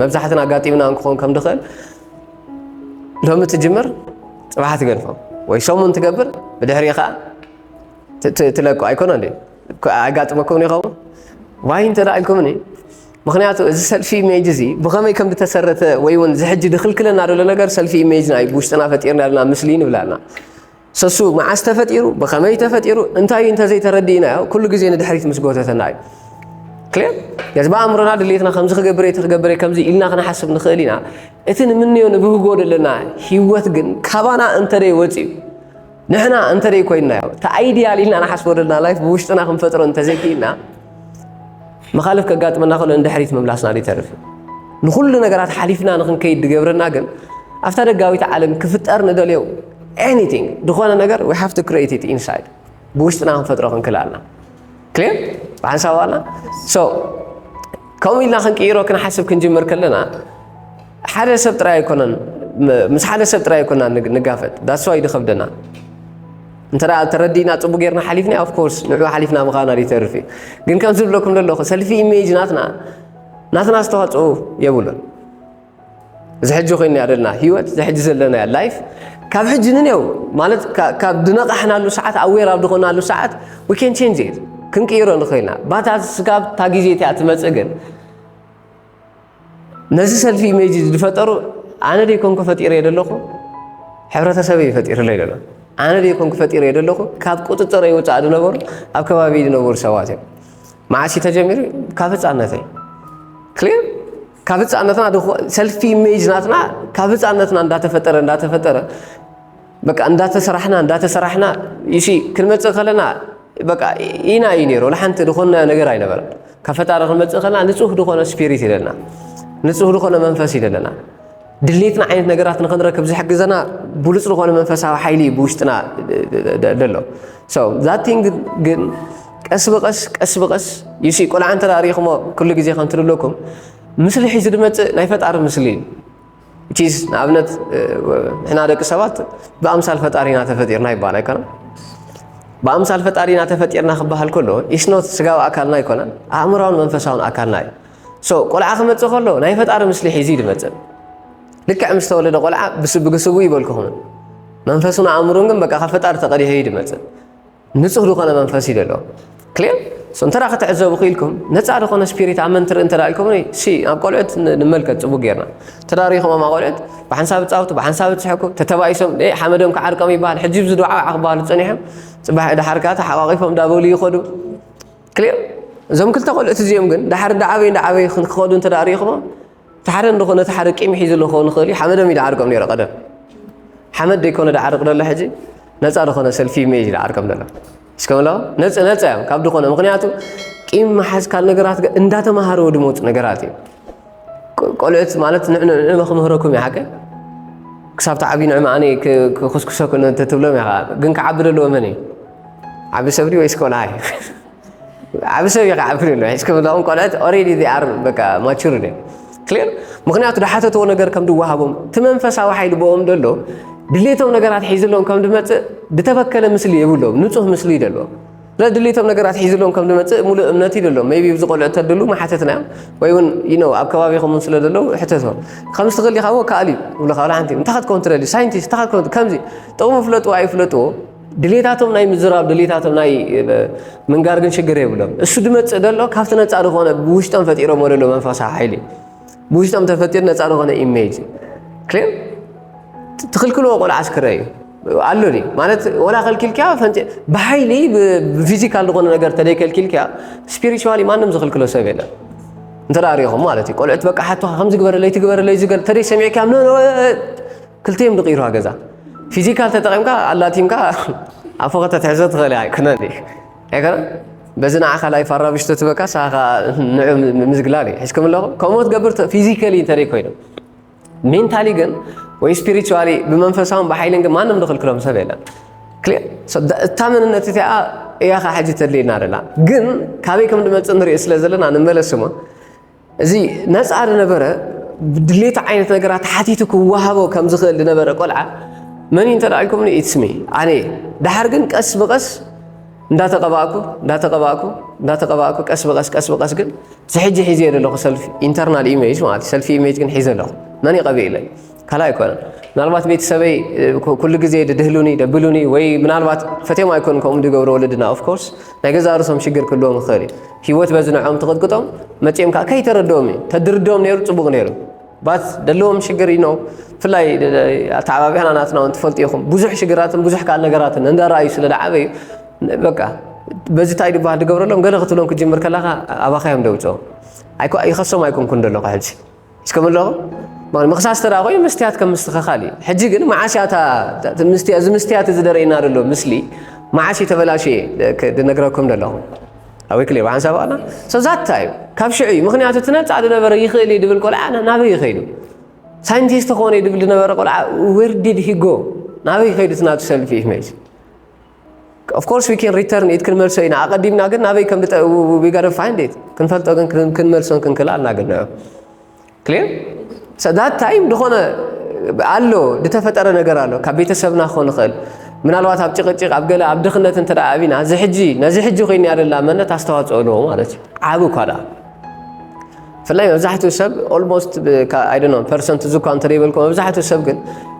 መብዛሕትና ኣጋጢምና እንክኾን ከም ድኽእል ሎሚ ትጅምር ፅባሕ ትገድፎ ወይ ሰሙን ትገብር ብድሕሪ ከዓ ትለቁ ኣይኮነ እንዴ ኣጋጥመኩም ይኸውን ዋይ እንተ ኢልኩምኒ ምክንያቱ እዚ ሰልፊ ኢሜጅ እዚ ብኸመይ ከም ዝተሰረተ ወይ እውን ዝሕጂ ድክልክለና ዘሎ ነገር ሰልፊ ኢሜጅና እዩ ብውሽጥና ፈጢርና ዘለና ምስሊ ንብላልና ሰሱ መዓስ ተፈጢሩ ብኸመይ ተፈጢሩ እንታይ እንተዘይተረዲእናዮ ኩሉ ግዜ ንድሕሪት ምስ ጎተተና እዩ ክልር ነዚ ብኣእምሮና ድሌትና ከምዚ ክገብረ እቲ ክገብረ ከምዚ ኢልና ክንሓስብ ንኽእል ኢና እቲ ንምንዮ ንብህጎ ዘለና ሂወት ግን ካባና እንተደይ ወፅዩ ንሕና እንተደይ ኮይንናዮ እቲ ኣይድያል ኢልና ንሓስቦ ዘለና ላይፍ ብውሽጥና ክንፈጥሮ እንተዘይክኢልና መኻልፍ ከጋጥመና ከሎ ንድሕሪት ምምላስና ዘይተርፍ እዩ። ንኹሉ ነገራት ሓሊፍና ንክንከይድ ዝገብረና ግን ኣብታ ደጋዊት ዓለም ክፍጠር ንደልዮ ኤኒቲንግ ዝኾነ ነገር ዊ ሃቭ ቱ ክሬት ኢት ኢንሳይድ ብውሽጥና ክንፈጥሮ ክንክል ኣልና ክሊር ብሓንሳብ ኣልና ሶ ከምኡ ኢልና ክንቅይሮ ክንሓስብ ክንጅምር ከለና ሓደ ሰብ ጥራይ ኣይኮነን ምስ ሓደ ሰብ ጥራይ ኣይኮና ንጋፈጥ ዳስዋይ ድኸብደና እንተ ተረዲእና ፅቡቅ ጌርና ሓሊፍና ኦፍ ኮርስ ንዑ ሓሊፍና ምኻና ይተርፍ እዩ ግን ከም ዝብለኩም ዘለኹ ሰልፊ ኢሜጅ ናትና ናትና ኣስተዋፅኦ የብሉን እዚ ሕጂ ኮይና ዘለና ሂወት እዚ ሕጂ ዘለና ላይፍ ካብ ሕጂ ንኔው ማለት ካብ ድነቃሕናሉ ሰዓት ኣዌር ኣብ ዝኾናሉ ሰዓት ዊ ኬን ቼንጅ ክንቅይሮ ንኽእልና ባታ ስጋብ እታ ግዜ እቲኣ ትመፅእ ግን ነዚ ሰልፊ ኢሜጅ ዝፈጠሩ ኣነ ደይ ኮንኩ ፈጢረዮ ዘለኹ ሕብረተሰብ እዩ ፈጢርለይ ዘሎ ኣነ ደይ ኮንኩ ፈጢረዮ ዘለኹ ካብ ቁፅፅረይ ውፃእ ዝነበሩ ኣብ ከባቢ ዝነበሩ ሰባት እዮም መዓስ እዩ ተጀሚሩ ካብ ህፃነተይ ክሊር ካብ ህፃነትና ሰልፊ ኢሜጅ ናትና ካብ ህፃነትና እንዳተፈጠረ እንዳተፈጠረ በቃ እንዳተሰራሕና እንዳተሰራሕና ይሲ ክንመፅእ ከለና በቃ ኢና እዩ ነይሩ ንሓንቲ ዝኾንናዮ ነገር ኣይነበረ ካብ ፈጣሪ ክንመፅእ ከለና ንፁህ ዝኾነ ስፒሪት ይደለና ንፁህ ዝኾነ መንፈስ ይደለና ድሌትና ዓይነት ነገራት ንክንረክብ ዝሕግዘና ብሉፅ ዝኾነ መንፈሳዊ ሓይሊ እዩ ብውሽጥና ደሎ ዛቲን ግን ቀስ ብቐስ ቀስ ብቐስ ይሲ ቆልዓ እንተ ሪኢኹሞ ኩሉ ግዜ ከምትልለኩም ምስሊ ሒዙ ድመፅእ ናይ ፈጣሪ ምስሊ እዩ ቺዝ ንኣብነት ንሕና ደቂ ሰባት ብኣምሳል ፈጣሪና ተፈጢርና ይበሃል ኣይኮነን ብኣምሳል ፈጣሪና ተፈጢርና ክበሃል ከሎ ኢስኖት ስጋዊ ኣካልና ኣይኮነን ኣእምራውን መንፈሳውን ኣካልና እዩ ሶ ቆልዓ ክመፅእ ከሎ ናይ ፈጣሪ ምስሊ ሒዙ እዩ ዝመፅእ ልክዕ ምስ ተወለደ ቆልዓ ብስብግስቡ ይበልኩኹምን መንፈሱን ኣእምሩን ግን በቃ ካብ ፈጣሪ ተቐዲሑ እዩ ዝመፅእ ንጹህ ዝኾነ መንፈስ እዩ ደሎ ክሌር ሶ እንተ ክትዕዘቡ ክኢልኩም ነፃ ዝኾነ ስፒሪት ኣብ መን ትርኢ እንተ ኢልኩም ሲ ኣብ ቆልዑት ንመልከት ጽቡቅ ጌርና ተዳሪኹሞም ቆልዑት ብሓንሳብ ጻውቱ ብሓንሳብ ዝስሕኩ ተተባኢሶም ሓመዶም ክዓርቀም ይበሃል ሕጂ ብዚ ዱዓ ክበሃሉ ጸኒሖም ጽባሕ ድሓርካ ተሓቋቂፎም እንዳበሉ ይኸዱ ክሊር እዞም ክልተ ቆልዑት እዚኦም ግን ድሓር እንዳዓበዩ እንዳዓበዩ ክኸዱ እንተ ሪኢኹሞም እቲ ሓደ እንዶ ነቲ ሓደ ቂም ሒዝሉ ክኸውን ይኽእል እዩ ሓመዶም እዩ ዝዓርቆም ነይሩ ቀደም ሓመድ ዘይኮነ ዝዓርቅ ዘሎ ሕጂ ነፃ ዝኾነ ሰልፊ ሜ እዩ ዝዓርቆም ዘሎ እስከምሎ ነፅ ነፃ እዮም ካብ ዝኾነ ምክንያቱ ቂም መሓዝ ካል ነገራት እንዳተማሃርዎ ድመፁ ነገራት እዩ ቆልዑት ማለት ንዕመ ክምህረኩም እዩ ሓቂ ክሳብ ተዓብዩ ንዕመ ኣነ ክኩስኩሰኩ ትብሎም ኢኻ ግን ክዓቢ ደለዎ መን እዩ ዓቢ ሰብዲ ወይስ ቆልዓ እዩ ዓብ ሰብ ኢኻ ዓብ ክልል ሒዝኩም እዛኦም ቆልዑት ኦሬዲ ዚ ኣር በቃ ማቹር ደ ክሊር ምክንያቱ ዝሓተትዎ ነገር ከም ድወሃቦም እቲ መንፈሳዊ ሓይሊ ብኦም ደሎ ድሌቶም ነገራት ሒዝሎም ከም ድመፅእ ድተበከለ ምስሊ የብሎም ንፁህ ምስሊ እዩ ደሎ ስለዚ ድሌቶም ነገራት ሒዝሎም ከም ድመፅእ ሙሉእ እምነት እዩ ደሎም ቢ ብዚ ቆልዑ ተድሉ መሓተትና እዮም ወይ እውን ይነ ኣብ ከባቢኹም ስለ ደለው ሕተቶም ከም ዝትኽእል ኢኻ ወ ከኣል እዩ ብልካ ሓንቲ እንታይ ክትከውን ትደልዩ ሳይንቲስት እንታይ ክትከውን ከምዚ ጥቕሙ ፍለጥዎ ኣይፍለጥዎ ድሌታቶም ናይ ምዝራብ ድሌታቶም ናይ ምንጋር ግን ሽግር የብሎም። እሱ ድመፅእ ደሎ ካብቲ ነፃ ዝኾነ ብውሽጦም ፈጢሮሞ ደሎ መንፈሳ ሓይሊ ብውሽጦም ተፈጢሩ ነፃ ዝኾነ ኢሜጅ ክሌም ትኽልክልዎ ቆልዓ ኣስክረ እዩ ኣሎ ማለት ወላ ከልኪልኪያ ብሓይሊ ብፊዚካል ዝኾነ ነገር ተደይ ከልኪልኪያ ስፒሪቹዋሊ ማንም ዝኽልክሎ ሰብ የለን እንተ ሪኹም ማለት እዩ ቆልዑት በቃ ሓቶኻ ከምዚ ግበረለይ ትግበረለይ ዝገ ተደይ ሰሚዕኪያ ክልቲኦም ድቂሩዋ ገዛ ፊዚካል ተጠቂምካ ኣላቲምካ ኣብ ፎቅ ተትሕዞ ትኽእል ኢኻ ኣይኮነን ድዩ ኣይኮነ በዚ ንዓኻ ላይ ፋራብሽ ተትበካ ሳኻ ንዑ ምዝግላል እዩ ሕዝኩም ኣለኹ ከምኡ ትገብር ፊዚካሊ እንተደይ ኮይኑ ሜንታሊ ግን ወይ ስፒሪቹዋሊ ብመንፈሳውን ብሓይልን ግን ማንም ዝኽልክሎም ሰብ የለን ክሊር እታ መንነት እቲኣ እያኻ ሕጂ ተድልየና ደላ ግን ካበይ ከም ድመፅእ ንሪኦ ስለ ዘለና ንመለስ እሞ እዚ ነፃ ዝነበረ ብድሌቱ ዓይነት ነገራት ሓቲቱ ክወሃቦ ከም ዝኽእል ዝነበረ ቆልዓ መን እዩ እንተ ኢልኩምኒ ኢትስሚ ኣነ እየ ድሓር ግን ቀስ ብቐስ እንዳተቐባእኩ እንዳተቐባእኩ እንዳተቐባእኩ ቀስ ብቐስ ቀስ ብቐስ ግን ዝሕጂ ሒዘ ዘለኹ ሰልፊ ኢንተርናል ኢሜጅ ማለት ሰልፊ ኢሜጅ ግን ሒዘ ኣለኹ መን ይቐብእ ኢለ ካልኣይ እኮ ምናልባት ቤተሰበይ ኩሉ ግዜ ድድህሉኒ ደብሉኒ ወይ ምናልባት ፈትዮም ኣይኮኑ ከምኡ ድገብሩ ወለድና ኦፍኮርስ ናይ ገዛ ርሶም ሽግር ክህልዎም ይኽእል እዩ ሂወት በዚ ንዕኦም ትቕጥቅጦም መፂኦም ከዓ ከይተረድኦም እዩ ተድርድኦም ነይሩ ፅቡቕ ነይሩ ባት ደለዎም ሽግር እዩ ብፍላይ ኣተዓባቢያና ናትና እውን ትፈልጡ ኢኹም ብዙሕ ሽግራትን ብዙሕ ካል ነገራትን እንዳረኣዩ ስለ ዝዓበዩ በቃ በዚ እንታይ ድበሃል ድገብረሎም ገለ ክትብሎም ክጅምር ከለኻ ኣባኻዮም ደውፅኦም ይኸሶም ኣይኮንኩን ደለኹ ሕጂ እስከ ምለኹ ማለት ምኽሳስ ተራ ኮይኑ መስትያት ከም ምስትኸኻል እዩ ሕጂ ግን መዓስ እያ እዚ መስትያት እዚ ደረእና ዘሎ ምስሊ መዓስ እዩ ተበላሸየ ድነግረኩም ዘለኹ ኣበይ ክልየ ብሓንሳብ ኣላ ሰብዛታ እዩ ካብ ሽዑ እዩ ምክንያቱ እቲ ነፃ ዝነበረ ይኽእል እዩ ድብል ቆልዓ ናበይ ይኸይዱ ሳይንቲስት ኾነ ድብል ዝነበረ ቆልዓ ዌር ዲድ ሂጎ ናበይ ይኸይዱ ትናቱ ሰልፊ ኢሜጅ Of course we can return it ክንመልሶ ኢና ኣቐዲምና ግን ናበይ ከም we gotta find it ክንፈልጦ ግን ክንመልሶን ክንክል ኣልና ግን ነው clear so that time ዝኾነ ኣሎ ዝተፈጠረ ነገር ኣሎ ካብ ቤተሰብና ክኾን ይኽእል ምናልባት ኣብ ጭቕጭቕ ኣብ ገለ ኣብ ድኽነት እንተ ኣብና እዚ ሕጂ ነዚ ሕጂ ኮይና ያደላ መነት ኣስተዋፅኦ ኣለዎ ማለት እዩ ዓብ እኳ ደኣ ብፍላይ መብዛሕትኡ ሰብ ኦልሞስት ኣይደኖ ፐርሰንት እዙ እኳ እንተደይበልኩ መብዛሕትኡ ሰብ ግን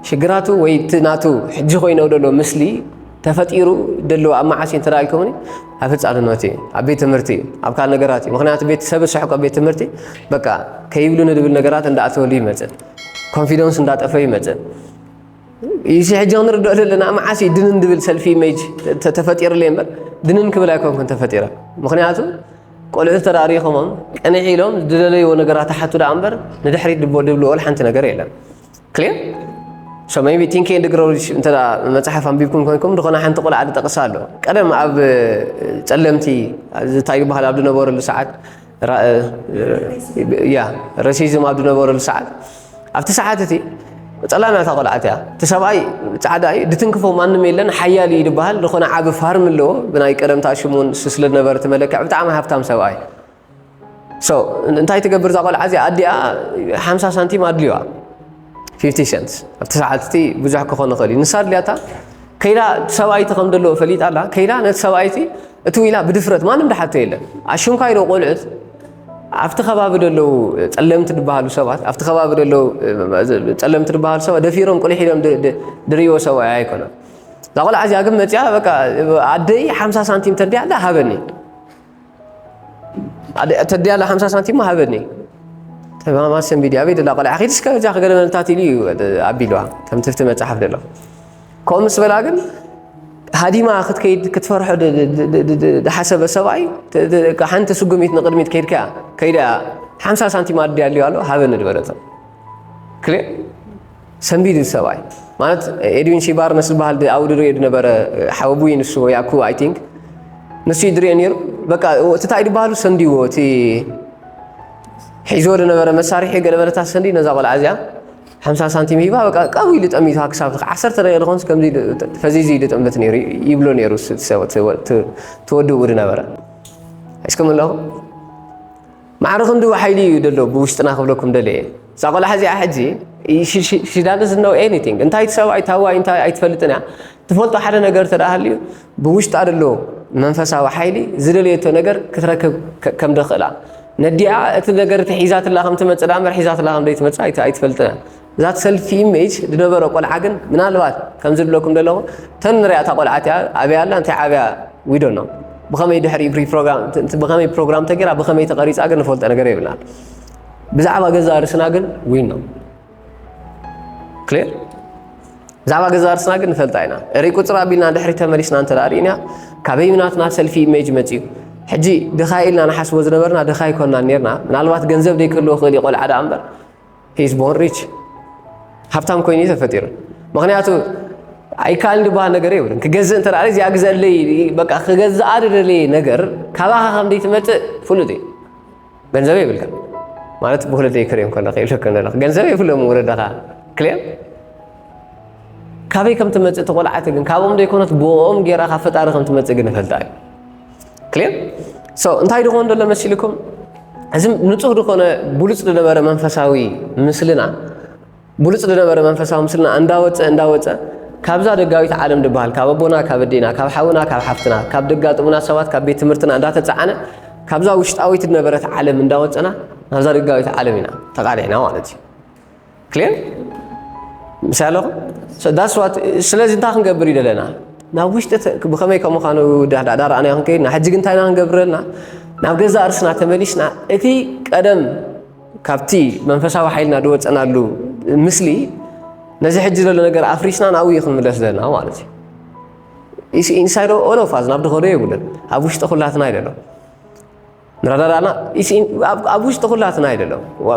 ሽግራቱ ወይ እቲ ናቱ ሕጂ ኮይነው ደሎ ምስሊ ተፈጢሩ ደለዎ ኣብ መዓስ እዩ እንተደኣልኩምኒ ኣብ ህፃንነት እዩ ኣብ ቤት ትምህርቲ እዩ ኣብ ካል ነገራት እዩ ምክንያቱ ቤት ሰብ ሰሕቆ ቤት ትምህርቲ በቃ ከይብሉ ንድብል ነገራት እንዳኣተወሉ ይመፅእ ኮንፊደንስ እንዳጠፈ ይመፅእ ኢሲ ሕጂ ክንርድኦ ዘለና መዓስ እዩ ድንን ድብል ሰልፊ ኢሜጅ ተፈጢሩለ እምበር ድንን ክብል ኣይኮንኩን ተፈጢረ ምክንያቱ ቆልዑ ተራሪኾሞም ቅንዒ ኢሎም ዝደለይዎ ነገራት ሓቱ ደኣ እምበር ንድሕሪት ድቦ ድብልዎል ሓንቲ ነገር የለን ክሊር ሶ ቢ ቲንኪ ድግሮች እንተ መፅሓፍ ኣንቢብኩም ኮይንኩም ዝኾነ ሓንቲ ቆልዓ ዝጠቕሳ ኣሎ ቀደም ኣብ ፀለምቲ ዝታዩ ባህል ኣብ ዝነበረሉ ሰዓት ያ ረሲዝም ኣብ ዝነበረሉ ሰዓት ኣብቲ ሰዓት እቲ ፀላም እታ ቆልዓት እያ እቲ ሰብኣይ ፃዕዳ እዩ ድትንክፎ ማንም የለን ሓያል እዩ ዝበሃል ዝኾነ ዓቢ ፋርም ኣለዎ ብናይ ቀደምታ ሽሙ ስለ ዝነበረ እቲ መለክዕ ብጣዕሚ ሃብታም ሰብኣይ እንታይ ትገብር እዛ ቆልዓ እዚኣ ኣዲኣ ሓምሳ ሳንቲም ኣድልዩዋ ፊፍቲ ሸንት ኣብቲ ሰዓት እቲ ብዙሕ ክኾን ይኽእል እዩ ንሳ ድልያታ ከይዳ ሰብኣይቲ ከም ዘለዎ ፈሊጣ ኣላ ከይዳ ነቲ ሰብኣይቲ እቲ ዊላ ብድፍረት ማንም ድሓቶ የለን ኣሽምካ ኢዶ ቆልዑት ኣብቲ ከባቢ ደለዉ ፀለምቲ ድበሃሉ ሰባት ኣብቲ ከባቢ ደለዉ ፀለምቲ ድበሃሉ ሰባት ደፊሮም ቁልሕ ኢሎም ድርእዎ ሰብኣ ኣይኮነን እዛ ቆልዓ እዚኣ ግን መፅያ በቃ ኣደይ ሓምሳ ሳንቲም ተድያ ኣላ ሃበኒ ተዲያላ ሓምሳ ሳንቲሞ ሃበኒ ተማማ ሰንቢዲ ኣበይ ደላ ቆልዓ ኪድ እስከ እዛ ክገለመልታት ኢሉ እዩ ኣቢልዋ ከም ትፍቲ መፅሓፍ ደሎ ከምኡ ምስ በላ ግን ሃዲማ ክትከይድ ክትፈርሖ ዝሓሰበ ሰብኣይ ሓንቲ ስጉሚት ንቅድሚት ከይድካ ከይዳ ሓምሳ ሳንቲም ኣዲ ኣልዩ ኣሎ ሃበኒ ዝበለቶ ክልእ ሰንቢዱ እቲ ሰብኣይ ማለት ኤድዊን ሲ ባርነስ ዝበሃል ኣብኡ ድርኦ ዝነበረ ሓወቡይ ንሱ ወይ ኣኩ ኣይ ቲንክ ንሱ እዩ ድርኦ ነይሩ በቃ እቲ እንታይ ዝበሃሉ ሰንዲዎ እቲ ሒዞ ዝነበረ መሳርሒ ገለበለታ ሰንዲ ነዛ ቆልዓ እዚኣ ሓምሳ ሳንቲም ሂባ በቃ ቀቡ ኢሉ ጠሚቱ ክሳብ ዓሰርተ ደቂቕ ዝኾንስ ከምዚ ፈዚዙ ኢሉ ጠምት ነይሩ ይብሎ ነይሩ ተወድኡ ዝነበረ እስከምለኹ ማዕረ ክንድኡ ሓይሊ እዩ ደሎ ብውሽጥና ክብለኩም ደለየ እዛ ቆልዓ እዚኣ ሕጂ ሽዳንስ ነው ኤኒቲንግ እንታይ ትሰብኣይ ታዋይ እንታይ ኣይትፈልጥን እያ ትፈልጦ ሓደ ነገር ተዳሃልዩ ብውሽጣ ደሎ መንፈሳዊ ሓይሊ ዝደለየቶ ነገር ክትረክብ ከም ደኽእላ ነዲኣ እቲ ነገር እቲ ሒዛትላ ከም ትመፅእ ዳኣ እምበር ሒዛትላ ከም ዘይትመፅእ ኣይትፈልጥን እያ ዛት ሰልፊ ኢሜጅ ዝነበረ ቆልዓ ግን ምናልባት ከምዚ ዝብለኩም ዘለኹ ተን ንሪኣ እታ ቆልዓ እቲኣ ኣበይ ኣላ እንታይ ዓብያ ዊዶ ኖ ብኸመይ ድሕሪ ብኸመይ ፕሮግራም ተገይራ ብኸመይ ተቐሪፃ ግን ንፈልጦ ነገር የብልናን ብዛዕባ ገዛ ርስና ግን ዊን ነው ክሊር ብዛዕባ ገዛ ርስና ግን ንፈልጣ ኢና እሪ ቁፅር ኣቢልና ድሕሪ ተመሊስና እንተ ርእና ካበይ ናትና ሰልፊ ኢሜጅ መፅዩ ሕጂ ድኻይ ኢልና ንሓስቦ ዝነበርና ድኻይ ኮና ነርና ምናልባት ገንዘብ ደይክህልዎ ክእል ቆልዓ ደኣ እምበር ሂ ኢዝ ቦርን ሪች ሃብታም ኮይኑ እዩ ተፈጢሩ ምክንያቱ ኣይከኣልን ዝበሃል ነገር የብሉን ክገዝእ እንተ እዚ ኣግዘለይ በቃ ክገዝኣ ድደለየ ነገር ካባኻ ከም ዘይትመፅእ ፍሉጥ እዩ ገንዘብ የብልካ ማለት ብወለደይ ክርዮም ከለካ ይብለከ ዘለካ ገንዘብ የብሎም ወለድኻ ክልዮም ካበይ ከም ትመፅእ ተቆልዓቲ ግን ካብኦም ዘይኮነት ብኦም ጌራ ካብ ፈጣሪ ከም ትመፅእ ግን እፈልጣ እዩ ክሌር ሰው እንታይ ድኾን ደሎ መሲልኩም እዚ ንጹህ ድኾነ ብሉጽ ዝነበረ መንፈሳዊ ምስልና ብሉጽ ዝነበረ መንፈሳዊ ምስልና እንዳወፀ እንዳወፀ ካብዛ ደጋዊት ዓለም ድበሃል ካብ ኣቦና ካብ ኣዴና ካብ ሓውና ካብ ሓፍትና ካብ ደጋጥሙና ሰባት ካብ ቤት ትምህርትና እንዳተፃዓነ ካብዛ ውሽጣዊት ዝነበረት ዓለም እንዳወፀና ናብዛ ደጋዊት ዓለም ኢና ተቃሊዕና ማለት እዩ ክሊር ምስ ኣለኹ ዳስ ዋት ስለዚ እንታይ ክንገብር እዩ ዘለና ናብ ውሽጢ ብኸመይ ከም ምዃኑ ዳዳ ረኣናዮ ክንከይድና ሕጂ ግን እንታይ ኢና ክንገብረልና ናብ ገዛ እርስና ተመሊስና እቲ ቀደም ካብቲ መንፈሳዊ ሓይልና ዝወፀናሉ ምስሊ ነዚ ሕጂ ዘሎ ነገር ኣፍሪስና ናብኡ እዩ ክንምለስ ዘለና ማለት እዩ ኢንሳይድ ኦሎፋዝ ናብ ድኸዶ የብሉን ኣብ ውሽጢ ኩላትና ይደሎ ንረዳዳእና ኣብ ውሽጢ ኩላትና እዩ ደሎ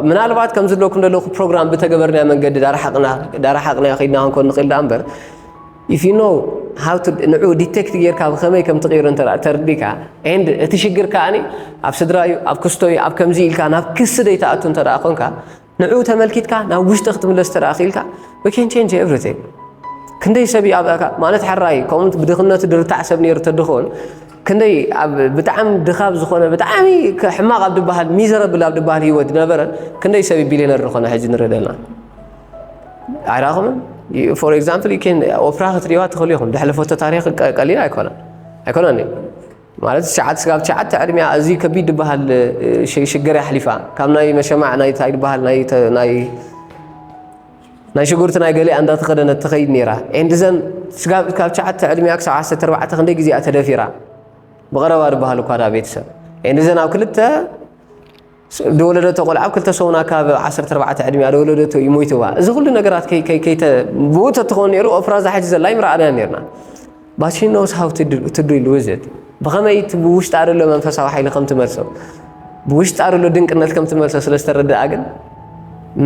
ምናልባት ከም ዝለኩም ደለኹ ፕሮግራም ብተገበርናዮ መንገዲ ዳራሓቕናዮ ከይድና ክንኮን ንኽእል ዳኣ እምበር ኢፍ ዩ ኖ ሃው ንዑ ዲቴክት ጌርካ ብኸመይ ከም ትቕይሮ እንተ ተርዲካ ኤንድ እቲ ሽግር ከኣኒ ኣብ ስድራ እዩ ኣብ ክስቶ እዩ ኣብ ከምዚ ኢልካ ናብ ክሲ ደይትኣቱ እንተ ኮንካ ንዕኡ ተመልኪትካ ናብ ውሽጢ ክትምለስ ተደኣ ክኢልካ we can change everything ክንደይ ሰብ እዩ ኣብ ማለት ሕራይ ከምኡ ብድኽነቱ ድርታዕ ሰብ ነይሩ ተድኾን ክንደይ ኣብ ብጣዕሚ ድኻብ ዝኾነ ብጣዕሚ ሕማቕ ኣብ ድበሃል ሚዘረብል ኣብ ድበሃል ህይወት ነበረ ክንደይ ሰብ ቢልዮነር ዝኾነ ሕጂ ንርኢ ዘለና ኣይረኣኹምን ፎር ኤግዛምፕል ኦፕራ ክትሪእዋ ትኽእሉ ኢኹም ድሕለፈቶ ታሪክ ቀሊል ኣይኮነን ኣይኮነን ማለት ትሽዓተ ስጋብ ትሽዓተ ዕድሚያ እዚ ከቢድ ድበሃል ሽግር ኣሕሊፋ ካብ ናይ መሸማዕ ናይ ታይ ድበሃል ናይ ናይ ሽጉርቲ ናይ ገሊኣ እንዳተኸደነት ትኸይድ ነይራ ኤንድዘን ስጋብ ካብ ትሽዓተ ዕድሚያ ክሳብ ዓሰርተ ኣርባዕተ ክንደይ ግዜኣ ተደፊራ ብቐረባ ድበሃል እኳ ዳ ቤተሰብ ኤንድዘን ኣብ ክልተ ደወለደቶ ቆልዓ ኣብ ክልተ ሰሙና ካብ ዓሰርተ ኣርባዕተ ዕድሚኣ ደወለደቶ እዩ ሞይትዋ እዚ ኩሉ ነገራት ከይተ ብኡ ተትኾን ነይሩ ኦፍራ እዛ ሕጂ ዘላ ይምርኣናያ ነርና but she knows how to, do, to deal with it ብኸመይ እቲ ብውሽጣ ዘሎ መንፈሳዊ ሓይሊ ከም ትመልሶ ብውሽጣ ዘሎ ድንቅነት ከም ትመልሶ ስለ ዝተረድኣ ግን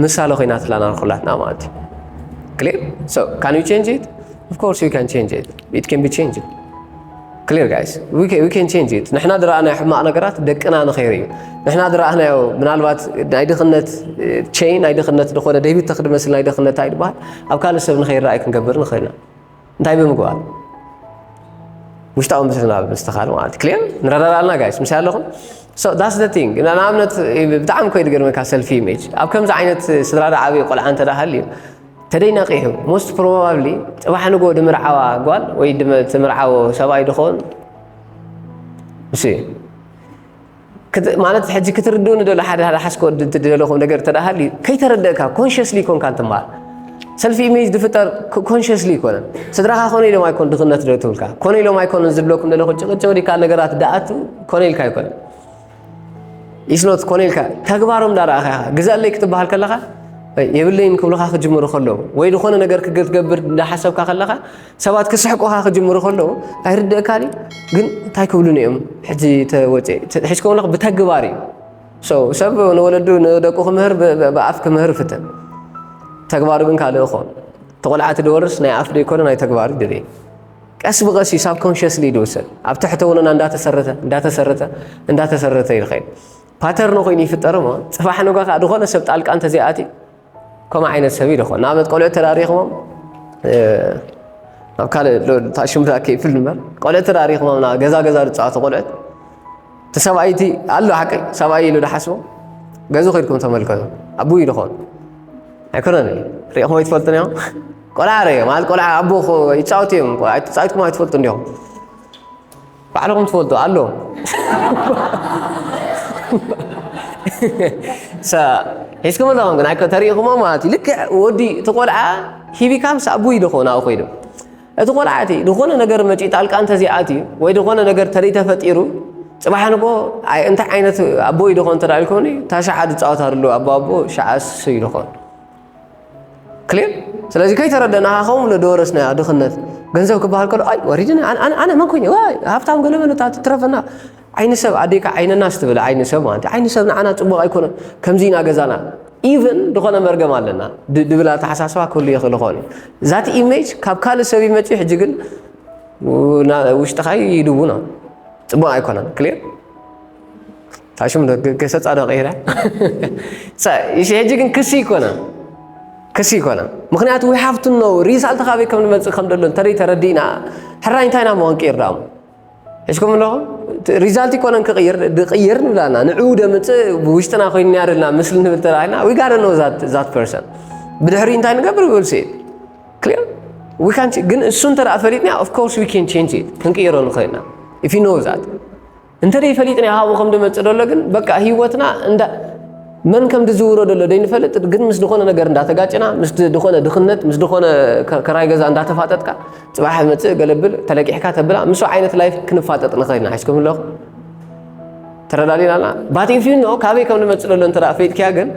ምሳለ ኮይናትላና ንኩላትና ማለት እዩ ክሊር ሶ ካን ዩ ቼንጅ ኢት ኦፍኮርስ ዩ ካን ቼንጅ ኢት ኢት ካን ቢ ቼንጅ Clear guys, we can, we can change it. ንሕና ዝረኣናዮ ሕማቕ ነገራት ደቅና ንኸይሩ እዩ ንሕና ዝረኣናዮ ምናልባት ናይ ድኽነት ቸይ ናይ ድኽነት ዝኾነ ደቢት ተኽዲ መስል ናይ ድኽነት ኣይድበሃል ኣብ ካልእ ሰብ ንኸይረኣይ ክንገብር ንኽእል ኢና እንታይ ብምግባር ውሽጣዊ ምስልና ምስትኻል ማለት እዩ ክሊር ንረዳዳ ኣለና ጋይስ ምስ ኣለኹም ዳስ ደ ቲንግ ንኣብነት ብጣዕሚ ኮይ ዝገርመካ ሰልፊ ኢሜጅ ኣብ ከምዚ ዓይነት ስድራ ዶ ዓብዪ ቆልዓ እንተደኣ ሃልዩ ተደይ ነቂሑ ሞስት ፕሮባብሊ ጽባሕ ንግሆ ድምርዓዋ ጓል ወይ ትምርዓዎ ሰብኣይ ድኾን እሱ እዩ ማለት ሕጂ ክትርድኡ ንደሎ ሓደ ሓደ ሓስኮ ትደለኹም ነገር ተደሃል እዩ ከይተረደእካ ኮንሽስሊ ኮንካ እንትምሃር ሰልፊ ኢሜጅ ዝፍጠር ኮንሽስሊ ኣይኮነን ስድራኻ ኮነ ኢሎም ኣይኮን ድኽነት ዶ ትብልካ ኮነ ኢሎም ኣይኮነን ዝብለኩም ዘለኹ ጭቕጭቕ ዲካ ነገራት ደኣቱ ኮነ ኢልካ ኣይኮነን ኢስኖት ኮነ ኢልካ ተግባሮም ዳረኣኻ ኢኻ ግዛለይ ክትበሃል ከለኻ የብለይን ክብልኻ ክጅምሩ ከለዉ ወይ ዝኾነ ነገር ክትገብር እንዳሓሰብካ ከለኻ ሰባት ክስሕቁኻ ክጅምሩ ከለዉ ኣይርድእካን እዩ ግን እንታይ ክብሉኒ እዮም ሕጂ ተወፀ ሕጅከምለኽ ብተግባር እዩ ሰብ ንወለዱ ንደቁ ክምህር ብኣፍ ክምህር ፍትን ተግባሩ ግን ካልእ እኾ ተቆልዓቲ ድወርስ ናይ ኣፍ ደይኮነ ናይ ተግባር ድል ቀስ ብቐስ እዩ ሳብኮንሽስሊ ዝውሰድ ኣብ ትሕተውንና እንዳተሰረተ እንዳተሰረተ እንዳተሰረተ እዩ ዝኸይድ ፓተርን ኮይኑ ይፍጠር እሞ ፅባሕ ንጋ ከዓ ዝኾነ ሰብ ጣልቃ እንተዘይኣትዩ ከምኡ ዓይነት ሰብ እዩ ዝኾን ንኣብነት ቆልዑ ተዳሪኽሞም ናብ ካልእ ታሽም ዳ ከይፍል ንበር ቆልዑ ተዳሪኽሞም ናብ ገዛ ገዛ ዝፃወቱ ቆልዑት እቲ ሰብኣይቲ ኣሎ ሓቂ ሰብኣይ ኢሉ ዝሓስቦ ገዙ ከድኩም ተመልከቱ ኣቡ ይድኾን ኣይኮነን ሪእኹም ኣይትፈልጡን እዮም ቆልዓ ረ ማለት ቆልዓ ኣቦ ይፃወቱ እዮም ተፃዊትኩም ኣይትፈልጡ እንዲኹም ባዕልኹም ትፈልጡ ኣሎ ሒዝኩም ኣለኹም ግን ተሪኢኹሞ ማለት እዩ ልክዕ ወዲ እቲ ቆልዓ ሂቢካ ምስ ኣቡ ኢሉ ኾ ናብኡ ኮይዱ እቲ ቆልዓ እቲ ዝኾነ ነገር መጪኡ ጣልቃ እንተዚኣትዩ ወይ ዝኾነ ነገር ተርኢ ተፈጢሩ ፅባሕ ንኮ እንታይ ዓይነት ኣቦ ኢሉ ኾን ተዳ ኢልኮኒ እታ ሸዓ ዝፃወታ ኣሎ ኣቦ ኣቦ ሸዓ እሱ ኢሉ ኾን ክሊር ስለዚ ከይተረደናኻ ከምኡ ለደወረስናያ ድኽነት ገንዘብ ክበሃል ከሎ ኣይ ወሪድና ኣነ መን ኮይነ ሃብታም ገለመለ እታ ትትረፈና ዓይኒ ሰብ ኣዴካ ዓይነና ስትብል ዓይኒ ሰብ ማለት ዓይኒ ሰብ ንዓና ፅቡቕ ኣይኮነን ከምዚ ኢና ገዛና ኢቨን ዝኾነ መርገም ኣለና ድብል ኣተሓሳስባ ክህሉ ይኽእል ኾን ዛቲ ኢሜጅ ካብ ካልእ ሰብ ይመፅ ሕጂ ግን ውሽጥኻ ይድውኖ ፅቡቕ ኣይኮነን ክሊር ታሽሙ ዶ ገሰጻ ዶ ቀይራ እሺ ሕጂ ግን ክሲ ይኮና ክሲ ይኮና ምክንያቱ ዊ ሃቭ ቱ ኖው ሪዛልት ካበይ ከም ንመጽእ ከም ደሎ እንተደይ ተረዲእና ሕራይ እንታይ ናሞ ክንቅይር ዳሞ ሕሽኩም ኣለኹም ሪዛልት ይኮነን ክቕይር ድቕይር ንብላና ንዕኡ ደምፅእ ብውሽጥና ኮይኑ ያርልና ምስሊ ንብል ተራኢና ዊ ጋር ኖ ዛት ፐርሰን ብድሕሪ እንታይ ንገብር ብልሲ ክሊር ዊ ካን ግን እሱ እንተ ፈሊጥና ኦፍኮርስ ዊ ካን ቼንጅ ክንቅይሮ ንኽእልና ኢፍ ዩ ኖው ዛት እንተ ደይፈሊጥና ይሃቦ ከም ድመጽእ ደሎ ግን በቃ ህይወትና እንዳ መን ከም ድዝውሮ ደሎ ደይንፈልጥ ግን ምስ ድኾነ ነገር እንዳተጋጭና ምስ ድኾነ ድኽነት ምስ ድኾነ ከራይ ገዛ እንዳተፋጠጥካ ፅባሕ መፅእ ገለብል ተለቂሕካ ተብላ ምስ ዓይነት ላይፍ ክንፋጠጥ ንኸይና ሒዝኩም ኣለኹ ተረዳዲናና ባቲንፊኖ ካበይ ከም ንመፅእ ደሎ እንተ ፈይጥኪያ ግን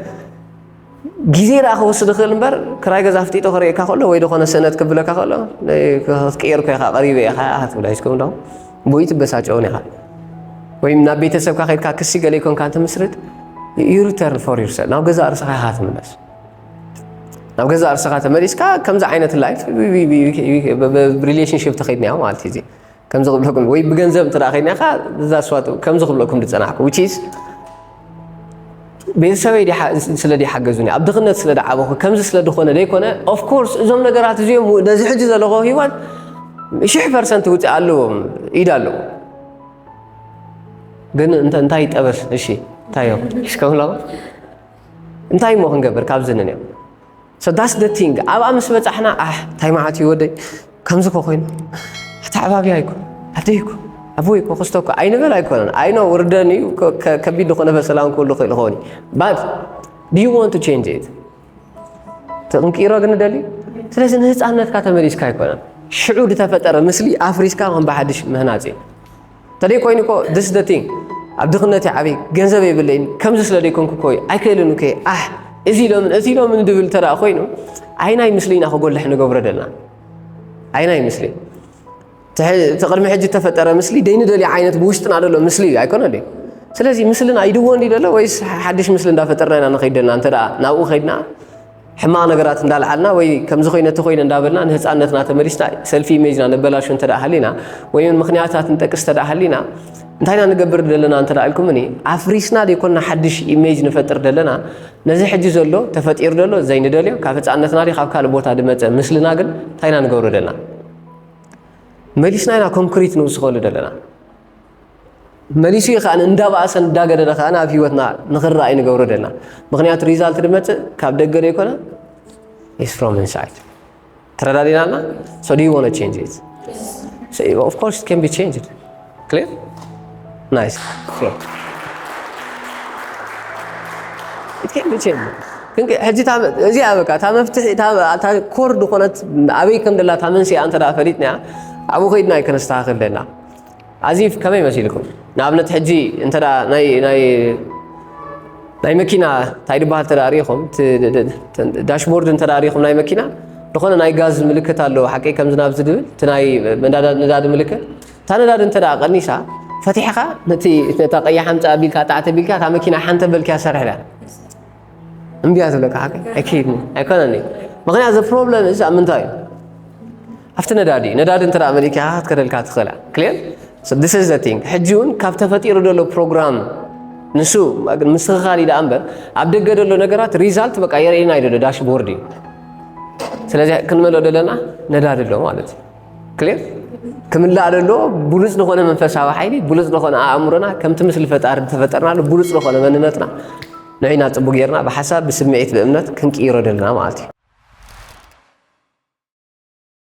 ግዜ ደኣ ክወስድ ይኽእል እምበር ክራይ ገዛ ኣፍጢጦ ክርእየካ ከሎ ወይ ዝኾነ ስእነት ክብለካ ከሎ ክትቅየር እኮ ኢኻ ቀሪበ ኢኻ ክትብላ ይስከም ዶ ወይ ትበሳጨውን ኢኻ ወይም ናብ ቤተሰብካ ከድካ ክሲ ገለ ይኮንካ እንትምስርት ዩሪተርን ፎር ዩርሰል ናብ ገዛ እርስኻ ኢኻ ትምለስ ናብ ገዛ እርስኻ ተመሊስካ ከምዚ ዓይነት ላይፍ ብሪሌሽንሽፕ ተኸድኒያ ማለት እዩ ከምዚ ክብለኩም ወይ ብገንዘብ እንተ ከይናካ እዛ ስዋት ከምዚ ክብለኩም ዝፀናሕኩ ውቺስ ቤተሰበይ ስለ ሓገዙኒ ኣብ ድኽነት ስለ ዓበኹ ከምዚ ስለ ዝኾነ ዘይኮነ ኦፍኮርስ እዞም ነገራት እዚኦም ነዚ ሕጂ ዘለኹ ሂወት ሽሕ ፐርሰንት ውፅእ ኣለዎም ኢድ ኣለዎ ግን እንታይ ጠበስ እሺ እንታይ እዮም ሽከምላ እንታይ እሞ ክንገብር ካብዚ ንንዮም So that's the thing ኣብኣ ምስ በጻሕና ኣሕ እንታይ መዓት እዩ ወደይ ከምዚ ኮ ኮይኑ ኣተዓባብያ ይኮ ኣደይ ይኮ ኣቦይ ይኮ ክስቶ እኮ ኣይንበል ኣይኮነን ኣይኖ ውርደን እዩ ከቢድ ዝኾነ በሰላን ክህሉ ክእል ኾኒ ባት ዩ ወንት ቼንጅ ኢት ክንቅይሮ ግን ደሊ ስለዚ ንህፃነትካ ተመሊስካ ኣይኮነን ሽዑ ዝተፈጠረ ምስሊ ኣፍሪስካ ከም ብሓድሽ ምህናፅ እዩ ተደይ ኮይኑ እኮ this the thing ኣብ ድኽነት እየ ዓብይ ገንዘብ የብለይን ከምዚ ስለ ደይኮንኩ እኮ እዩ ኣይክእልን እኮ ኣሕ እዚ ኢሎምን እዚ ኢሎምን ድብል እንተ ኮይኑ ዓይናይ ምስሊ ኢና ክጎልሕ ንገብሮ ደልና ዓይናይ ምስሊ እቲ ቅድሚ ሕጂ እተፈጠረ ምስሊ ደይንደልዮ ዓይነት ብውሽጥና ደሎ ምስሊ እዩ ኣይኮነ ደ ስለዚ ምስልና ይድዎ እንዲ ደሎ ወይስ ሓድሽ ምስሊ እንዳፈጠርና ኢና ንኸይድ ደልና እንተ ናብኡ ከይድና ሕማቕ ነገራት እንዳልዓልና ወይ ከምዚ ኮይነ እቲ ኮይነ እንዳበልና ንህፃነትና ተመሊስና ሰልፊ ኢሜጅና ነበላሹ እንተ ሃሊና ወይ እውን ምክንያታት ንጠቅስ እንተ ሃሊና እንታይ ኢና ንገብር ዘለና እንተ ኢልኩምኒ ኣፍሪስና ዘይኮንና ሓድሽ ኢሜጅ ንፈጥር ዘለና ነዚ ሕጂ ዘሎ ተፈጢሩ ዘሎ ዘይንደልዮ ካብ ህፃነትና ዲ ካብ ካልእ ቦታ ድመፀ ምስልና ግን እንታይ ኢና ንገብሮ ዘለና መሊስና ኢና ኮንክሪት ንውስኸሉ ዘለና መሊሱ እዩ ከኣ እንዳባእሰ እንዳገደደ ከኣ ኣብ ሂወትና ንኽረኣ እዩ ንገብሮ ደና ምክንያቱ ሪዛልት ድመፅእ ካብ ደገ ዶ ይኮነ ኢስ ፍሮም ኢንሳይድ ተረዳዲና ኣልና ሶ ዱ ዋነ ቼንጅ ኢት ኦፍ ኮርስ ኢት ካን ቢ ቼንጅድ ክሊር ናይስ ሕጂ እዚኣ በቃ እታ መፍትሒ እታ ኮር ዝኾነት ኣበይ ከም ደላ እታ መንስያ እንተ ፈሊጥና ኣብኡ ከይድና እዩ ከነስተኻኽል ደና As if ከመይ መሲልኩም ንኣብነት ሕጂ እንተ ናይ ናይ ናይ መኪና እንታይ ድበሃል እንተ ሪኢኹም ዳሽቦርድ እንተ ሪኢኹም ናይ መኪና ዝኾነ ናይ ጋዝ ምልክት ኣለዎ ሓቂ ከምዚ ናብዚ ድብል እቲ ናይ ነዳዲ ምልክት እታ ነዳዲ እንተ ቀኒሳ ፈቲሕኻ ነቲ ነታ ቀያሕ ኣምፃ ኣቢልካ ጣዕቲ ኣቢልካ እታ መኪና ሓንተ በልክያ ሰርሕዳ እምቢያ ዘለካ ሓቂ ኣይከይድን ኣይኮነን እዩ ምክንያት ዘ ፕሮብለም እዚ ኣብ ምንታይ እዩ ኣብቲ ነዳዲ ነዳዲ እንተ መሊካ ክትከደልካ ትኽእላ ክልር ስ ዘ ቲንግ ሕጂ እውን ካብ ተፈጢሩ ዘሎ ፕሮግራም ንሱ ምስኽኻል እዩ ዳኣ እምበር ኣብ ደገ ዘሎ ነገራት ሪዛልት በቃ የርእየና እዩ ዘሎ ዳሽቦርድ እዩ ስለዚ ክንመልኦ ዘለና ነዳዲ ኣሎ ማለት እዩ ክሌር ክምላእ ደሎ ብሉፅ ዝኾነ መንፈሳዊ ሓይሊ ብሉፅ ዝኾነ ኣእምሮና ከምቲ ምስሊ ፈጣሪ ዝተፈጠርናሉ ብሉፅ ዝኾነ መንነትና ንዕና ፅቡቅ ጌርና ብሓሳብ ብስምዒት ብእምነት ክንቅይሮ ደለና ማለት እዩ